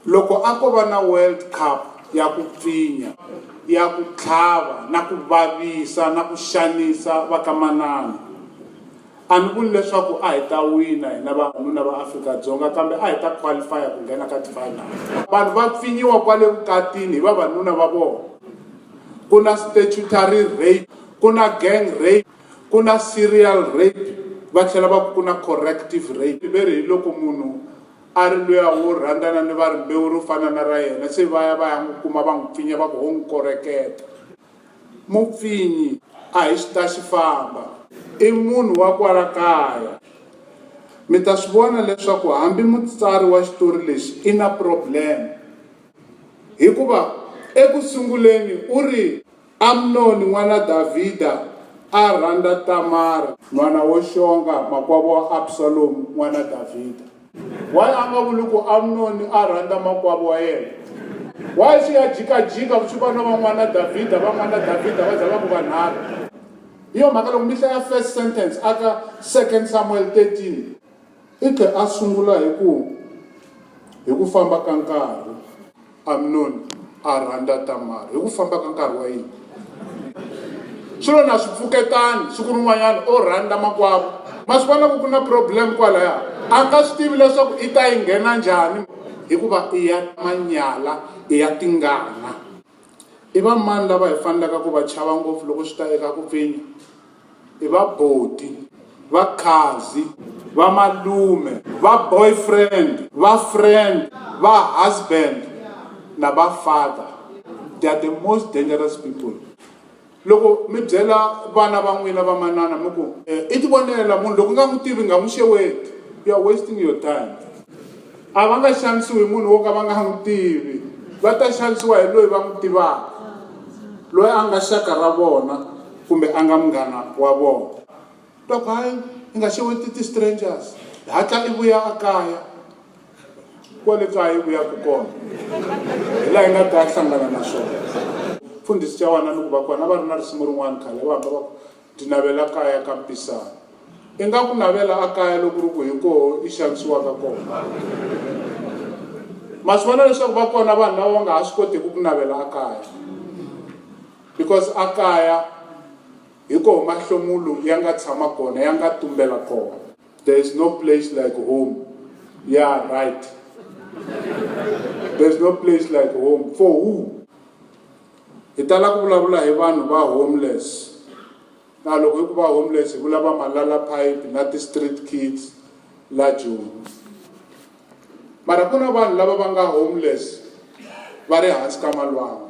Loko a ko va na World Cup ya ku pfinya, ya ku tlhava na ku vavisa na ku xanisa vakamanana, a ni vuli leswaku a hi ta wina hina vavanuna va Afrika-Dzonga kambe a hi ta qualifya ku nghena ka tifinal. Vanhu va pfinyiwa kwale vukatini hi vavanuna va vona. Ku na statutory rape, ku na gang rape, ku na serial rape va tlhela va ku ku na corrective rape. Ve ri hiloko munhu A ri luya wo rhandzana ni va rimbewu ro fana na ra yena, se va ya va ya n'wi kuma va n'wi pfinya va ku, Ho n'wi koreketa. Mupfinyi a hi xitaxi famba. I munhu wa kwala kaya. Mi ta swi vona leswaku hambi mutsari wa xitori lexi i na problem hikuva eku sunguleni u ri, Amnoni n'wana Davhida a rhandza Tamara. N'wana wo xonga, makwavo wa Absalomu n'wana Davhida. Why a nga vuli ku Amnoni a rhandza makwavo wa yena? Why swi ya jikajika swi va na va n'wana Davhida, va n'wana Davhida va za va ku vanharhu? Hi yo mhaka loko mi hlaya first sentence aka Second Samuel 13, I tlhe a sungula hi ku, Hi ku famba ka nkarhi, Amnoni a rhandza Tamara. Hi ku famba ka nkarhi wa yini? Swilo na swi pfuketani, siku rin'wanyana o rhandza makwavo. Ma swi vona ku ku na problem kwalaya. A nga swi tivi leswaku i ta yi nghena njhani hikuva i ya manyala, i ya tingana. I vamani lava hi fanelaka ku va chava ngopfu loko swi ta eka ku pfinya? i va boti va khadzi va malume va boyfriend va friend va husband na va father they are the most dangerous people loko mi byela vana va n'wina va manana mi ku eh, i ti vonela munhu loko nga n'wi tivi nga n'wi xeweti you are wasting your time a va nga xanisiwi munhu wo ka va nga n'wi tivi va ta xanisiwa hi loyi va n'wi tivaka loyi a nga xaka ra vona kumbe a nga munghana wa vona dok hayi i nga xeweti ti-strangers hatla i vuya a kaya kwale kaya i vuyaku kona hi laha i nga ta hlangana na swona mfundhisi xa wana ni ku va kona va ri na risimu rin'wana khale va hamba va ku ti navela kaya ka mpisana i nga ku navela a kaya loko ri ku hi koho i xanisiwaka kona ma swi vona leswaku va kona vanhu lava va nga ha swi kotiki ku navela a kaya Because a kaya hi koho mahlomulu ya nga tshama kona, ya nga tumbela kona. There is no place like home, yeah right. There is no place like home, for who? Hi tala ku vulavula hi vanhu va homeless, na loko hi ku va homeless hi vula va malala pipe na ti street kids la Joni. Mara ku na vanhu lava va nga homeless va ri hansi ka malwanga.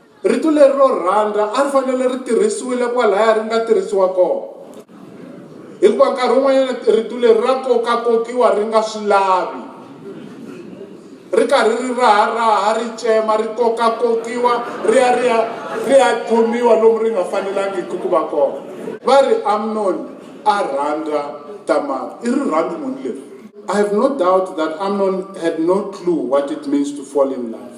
Rito leri ro rhandza a ri fanele ri tirhisiwile kwalaya ri nga tirhisiwa kona, hikuva nkarhi wun'wanyana rito leri ra kokakokiwa ri nga swi lavi ri karhi ri raharaha ri tsema ri kokakokiwa ri ya ri ya ri ya khomiwa lomu ri nga fanelangiki ku va kona va ri amnoni a rhandza tamara i rirhandzu muni leri i have no doubt that amnon had no clue what it means to fall in love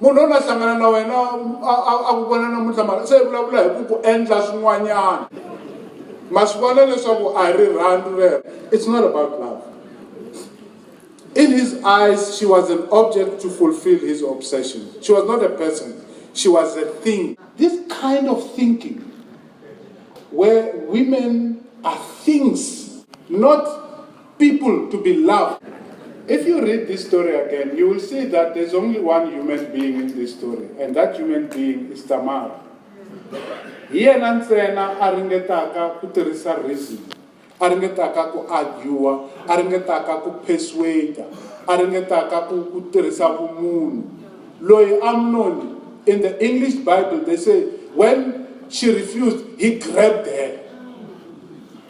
munhu loyi a hlangana na wena a ku vona namuntlha mara se vulavula hi ku ku endla swin'wanyana ma swi vona leswaku a hi rirhandzu rero it's not about love in his eyes she was an object to fulfill his obsession she was not a person she was a thing this kind of thinking where women are things not people to be loved. If you read this story again, you will see that there's only one human being in this story, and that human being is Tamar. He and ntsena a ringetaka ku tirhisa reason a ringetaka ku argua a ringetaka ku persuada a ringetaka ku ku tirhisa vumunhu loyi amnoni in the english bible they say when she refused he grabbed her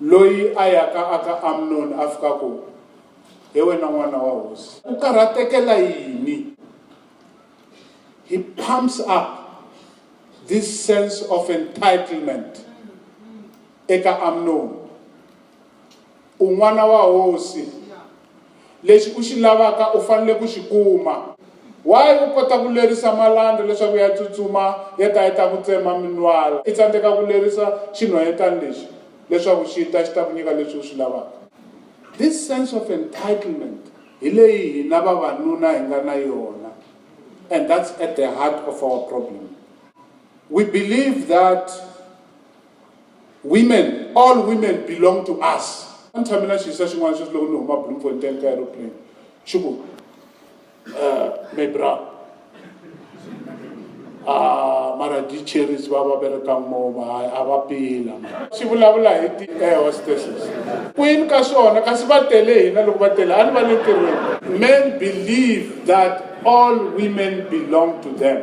loyi a yaka aka amnoni a fika ku he wena n'wana wa hosi u karhatekela yini he pumps up this sense of entitlement eka amnoni U n'wana wa hosi. Lexi u xi lavaka u fanele ku xi kuma. Why u kota ku lerisa malandza leswaku ya tsutsuma ya ta ya ta ku tsema minwala, i tsandzeka ku lerisa xinhwanyetana lexi leswaku xi ta xi ta ku nyika leswi u swi lavaka? This sense of entitlement hi leyi hina vavanuna hi nga na yona and that's at the heart of our problem. We believe that Women, all women belong to us. Ni tshame na xiyisa xin'wana sweswi loko ni huma Bloemfontein ka aeroplane xi ku uh, mebra Ah, mara di cherries va va berekang moma hayi a va pila xi vulavula hi ti air hostesses kwini ka swona kasi va tele hina loko va tele a ni va le ntirhweni men believe that all women belong to them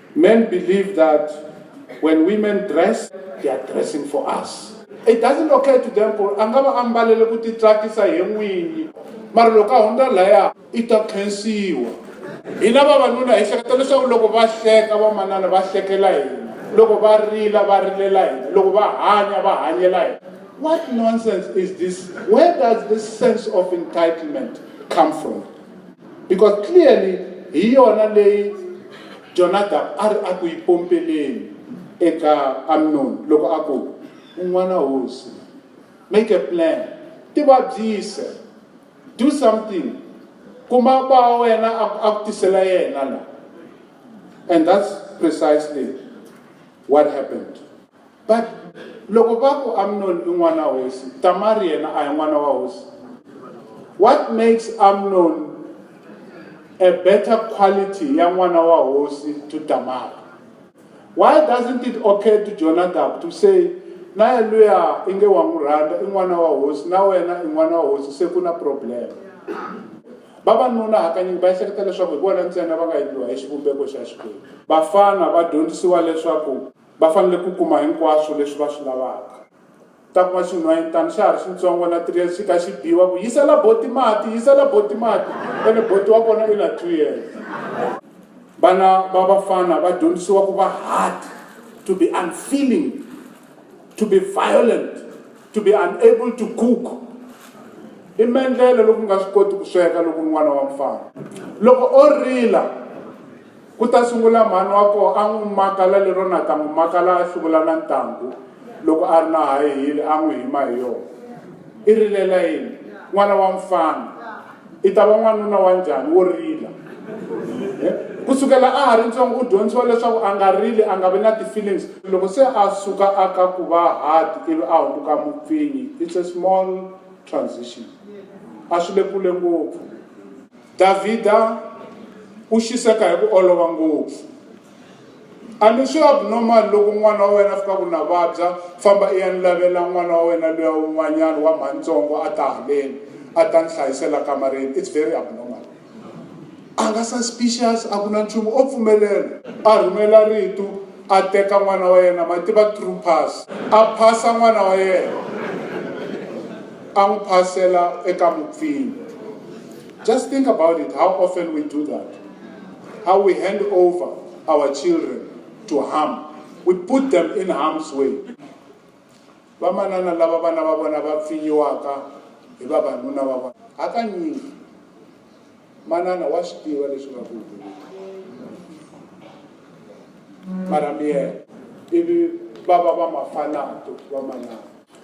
Men believe that when women dress, they are dressing for us. It doesn't occur to them ku a nga va a mbalele ku titsakisa hi n'winyi mara loko a hundza laya i ta khensiwa hina vavanuna hi hleketa leswaku loko va hleka vamanana va hlekela hina loko va rila va rilela hina loko va hanya va hanyela hina what nonsense is this where does this sense of entitlement come from because clearly hi yona leyi jonadab a ri a ku yi pompeleni eka amnoni loko a ku un'wana hosi make a plan ti vabyise do something kuma ba wena a ku tisela yena la and that's precisely what happened but loko va ku amnoni i n'wana wa hosi tamari yena a hi n'wana wa hosi what makes amnoni a better quality ya n'wana wa hosi to tamari why doesn't it occur to jonadab to say na luya i nge wa n'wi rhandza i n'wana wa hosi na wena i n'wana wa hosi se ku na problem vavanuna hakanyingi va ehleketa leswaku hi vona ntsena va nga endliwa hi xivumbeko xa xikwembu vafana va dyondzisiwa leswaku Va fanele ku kuma hinkwaswo leswi va swi lavaka. Ku ta kuma xinhwanyetana xa ha ri xintsongo na three years xi kha xi biwa ku yisela boti mati yisela boti mati ene boti wa kona i na two years. Vana va vafana va dyondzisiwa ku va hard, to be unfeeling, to be violent, to be unable to cook. I mendlele loko u nga swi koti ku sweka loko u ri n'wana wa mfana loko o rila. Ku ta sungula mhani wa koho a n'wi makala lero na ta n'wi makala a hluvula na ntangu loko a ri na high heel a n'wi hima hi yona. I rilela yini? N'wana wa mfana. I ta va n'wanuna wa njhani wo rila? Ku sukela a ha ri ntsongo u dyondzisiwa leswaku a nga rili, a nga vi na ti-feelings. Loko se a suka a ka ku va hard ivi a hundzuka mupfinyi, it's a small transition. A swi le kule ngopfu. Davhida u xiseka hi ku olova ngopfu. A ni swi abnormal loko n'wana wa wena a fika ku na vabya, famba i ya ni lavela n'wana wa wena luya un'wanyana wa mhanintsongo a ta haleni a ta ni hlayisela kamareni. It's very abnormal. A nga suspicious, a ku na nchumu, o pfumelela. A rhumela rito, a teka n'wana wa yena, ma tiva true pass, a phasa n'wana wa yena, a n'wi phasela eka mupfinyi. Just think about it, how often we do that. How we hand over our children to harm. We put them in harm's way. vamanana lava vana va vona va pfinyiwaka hi vavanuna va vona hakanyingi manana wa swi tiva leswi nga ku mara miyena ivi va va va mafanato vamanana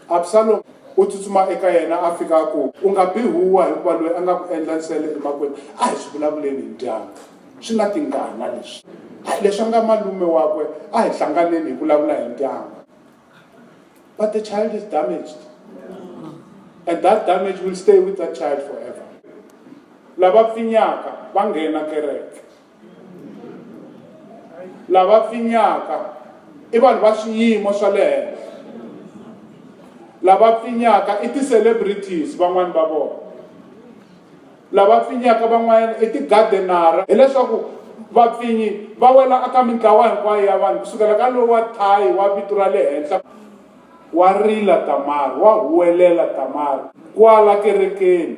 Absalom u tsutsuma eka yena a fika a ku, U nga bi huwa hikuva loyi a nga ku endla nsele emakwenu a hi swi vulavuleni hi dyanga. Swi na tingana leswi. Hayi, leswi a nga malume wakwe a hi hlanganeni hi vulavula hi dyanga. But the child is damaged and that damage will stay with that child forever. Lava pfinyaka va nghena kereke lava pfinyaka i vanhu va swiyimo swa le henhla lava pfinyaka i ti-celebrities van'wani va vona lava pfinyaka van'wanyana i ti-gardenara hileswaku vapfinyi va wela aka mintlawa hinkwayo ya vanhu ku sukela ka lowa thayi wa vito ra le henhla Wa rila Tamari, wa huwelela Tamari kwala kerekeni.